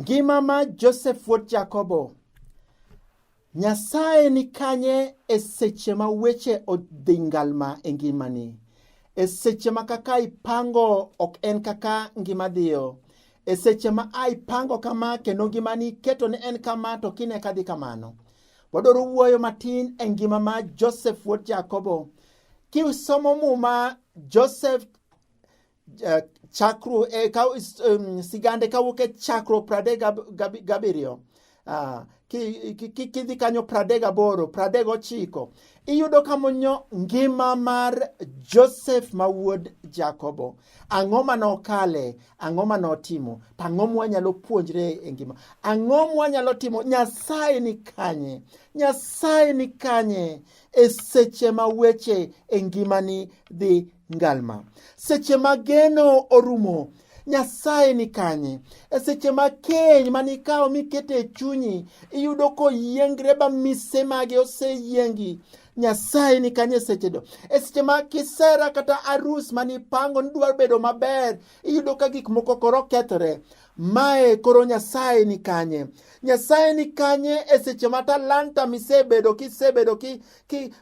Ngima ma Joseph wuod Jakobo. Nyasaye ni kanye e seche ma weche odhi ngalma e ngimani? E seche ma kaka ipango ok en kaka ngima dhiyo. E seche ma a ipango kama kendo ngimani keto ni en kama to kine ka dhi kamano. Wadwaro wuoyo matin e ngima ma Joseph wuod Jakobo. Kisomo muma Joseph Eh, chakru, eh, ka, um, sigande kawuok e chakruok pradek gabiriyo ah, kidhi kanyo pradek gaboro pradek gochiko iyudo kamonyo ngima mar joseph ma wuod jakobo ang'o ma nokale ang'o ma notimo to ang'o mwanyalo puonjre e ngima ang'o mwanyalo timo nyasaye ni kanye nyasaye ni kanye e seche ma weche e ngimani dhi Ngalma. Seche ma geno orumo, Nyasaye ni kanye? E seche ma keny ma nikawo mikete e chunyi, iyudo koyiengre ba mise mage oseyiengi. Nyasaye ni kanye e seche do? E seche ma kisera kata arus ma nipango nidwa bedo maber, iyudo ka gik moko koro kethore. Mae koro Nyasaye ni kanye? Nyasaye ni kanye e seche ma talanta misebedo kisebedo ki, ki,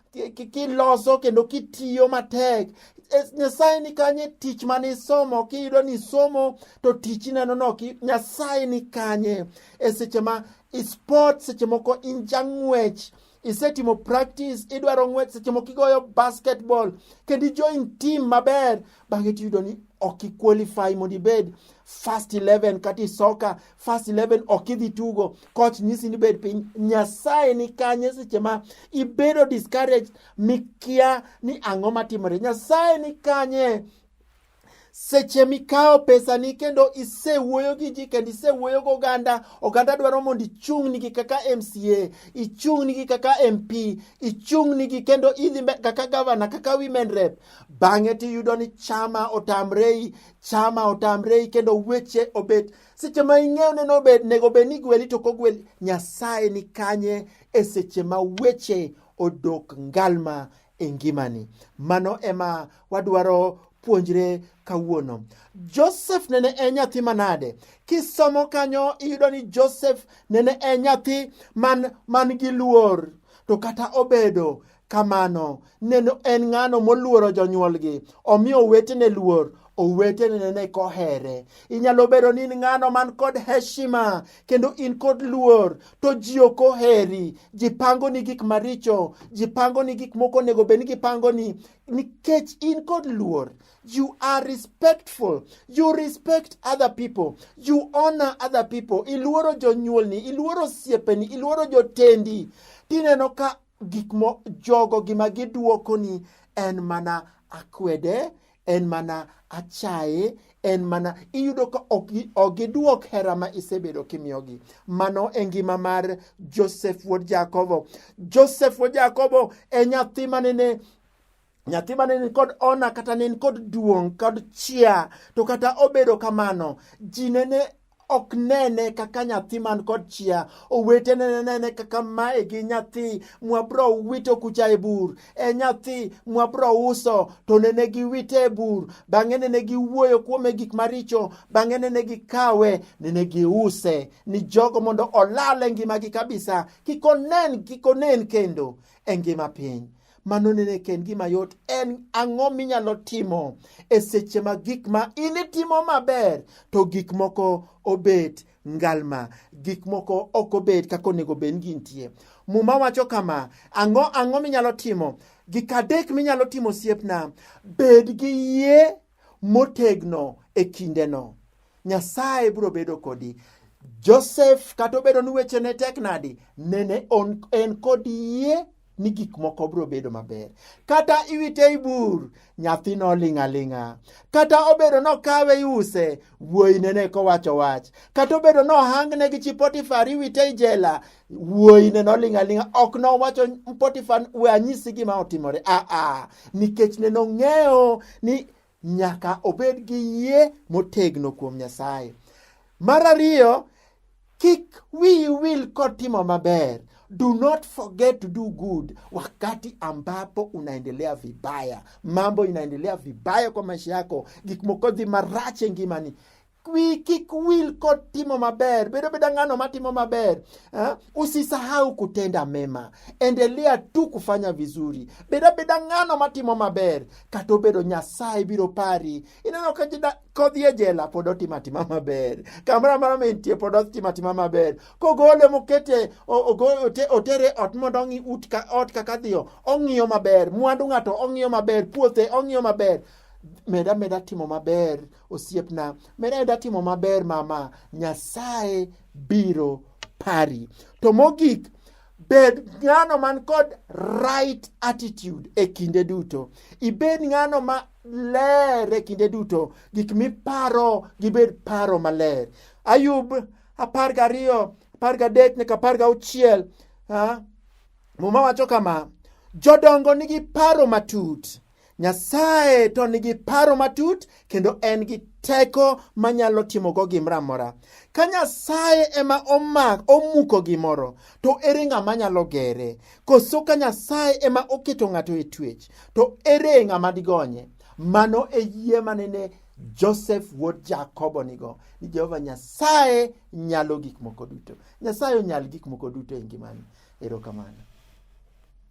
kiloso kendo kitiyo matek e, nyasaye ni kanye tich mane isomo kiyudo ni isomo to tich ineno no nyasaye ni kanye e seche ma isport seche moko inja ng'wech isetimo practice idwaro ng'wech seche moko igoyo basketball kendo ijoin team maber bang'e tiyudo ni ok iqualify mondo ibed first 11 kata isoka First 11 ok idhi tugo coach nyisi ni bed piny nyasaye ni kanye seche ma ibedo discouraged mikia ni ang'o matimore nyasaye ni kanye seche mikawo pesani kendo isewuoyo gi ji kendo isewuoyo gi oganda oganda dwaro mondo ichung'nigi kaka mca ichung'nigi kaka mp ichung'nigi kendo idhi kaka gavana kaka women rep bang'e tiyudo ni chama otamrei chama otamrei kendo weche obet Seche ma ing'eyo ni nego bed ni igweli to kogweli, Nyasaye ni kanye e seche ma weche odok ngalma e ngimani. Mano ema wadwaro puonjre kawuono. Joseph nene en e nyathi manade? Kisomo kanyo iyudo ni Joseph nene en e nyathi man, man gi luor to kata obedo kamano neno en ng'ano moluoro jonyuolgi omiyo owetene luor owetene nene kohere inyalo bedo ni in ng'ano man kod heshima kendo in kod luor to ji ok oheri ji pango ni gik maricho ji pango ni gik moko onego bed ni gipango ni nikech in kod luor you are respectful you respect other people you honor other people iluoro jonyuolni iluoro osiepeni iluoro jotendi tineno ka Gik mo jogo gima gidwokoni en mana akwede, en mana achaye, en mana iyudo ka ok gidwok hera ma isebedo kimiyogi. Mano e ngima mar Joseph wuod Jakobo. Joseph wuod Jakobo e nyathi manene nyathi mane ni kod ona kata ne kod duong' kod chia to kata obedo kamano ji nene ok nene kaka nyathi man kod chia owete nene nene kaka mae gi nyathi mwabro wito kucha e bur e nyathi mwabro uso to nene giwite e bur bang'e nene giwuoyo kuome gik maricho bang'e nene gikawe nene giuse ni jogo mondo olal e ngimagi kabisa kik onen kik onen kendo e ngima piny Mano nene ok en gima yot. En ang'o minyalo timo e seche ma gik ma in itimo maber to gik moko obet ngalma, gik moko ok obet kaka onego bed ni gintie. Muma wacho kama, ang'o ang'o minyalo timo? Gik adek minyalo timo osiepna, bed gi yie motegno e kindeno. Nyasaye biro bedo kodi. Joseph kata obedo ni weche ne tek nadi, nene on, en kod yie ni gik moko biro bedo maber. Kata iwite i bur, nyathino ling' aling'a. Kata obedo nokawe iuse, wuoyi nene kowacho wach. Kata obedo nohangne gi chi Potifar iwite i jela, wuoyine noling' aling'a ok nowacho potifar we anyisi gima otimore aa ah, ah. nikech ne nong'eyo ni nyaka obed gi yie motegno kuom nyasaye mar ariyo kik wiyi wil kotimo maber do not forget to do good wakati ambapo unaendelea vibaya mambo inaendelea vibaya kwa maisha yako gik moko dhi marach e ngimani Wi kik wil kod timo maber, bedo beda ng'ano matimo maber ha? Usisahau kutenda mema, endelea tu kufanya vizuri, beda beda ng'ano matimo maber. Kata obedo Nyasaye biro pari, ineno ka kodhi e jela pod otimo atima maber, kamoro amora mentie pod otimo atima maber. Kogole mokete otere ot mondo ong'i ut ka ot kaka dhiyo, ong'iyo maber mwandu ng'ato, ong'iyo maber puothe, ong'iyo maber meda meda timo maber Osiepna, med ameda timo maber mama, Nyasaye biro pari. To mogik, bed ng'ano man kod right attitude e kinde duto. Ibed ng'ano ma ler e kinde duto. Gik miparo gibed paro maler. Ayub apar gariyo, apar gadek nyaka apar gauchiel. Ha? Muma wacho kama, jodongo nigi paro matut. Nyasaye to nigi paro matut kendo en gi teko manyalo timogo gimoro amora. Ka Nyasaye ema omak omuko gimoro, to ere ng'ama nyalo gere? Koso ka Nyasaye ema oketo ng'ato e twech, to ere ng'ama digonye? Mano e yie manene Joseph wuod Jakobo nigo ni Jehova Nyasaye nyalo gik moko duto. Nyasaye onyal gik moko duto e ngimani. Erokamano.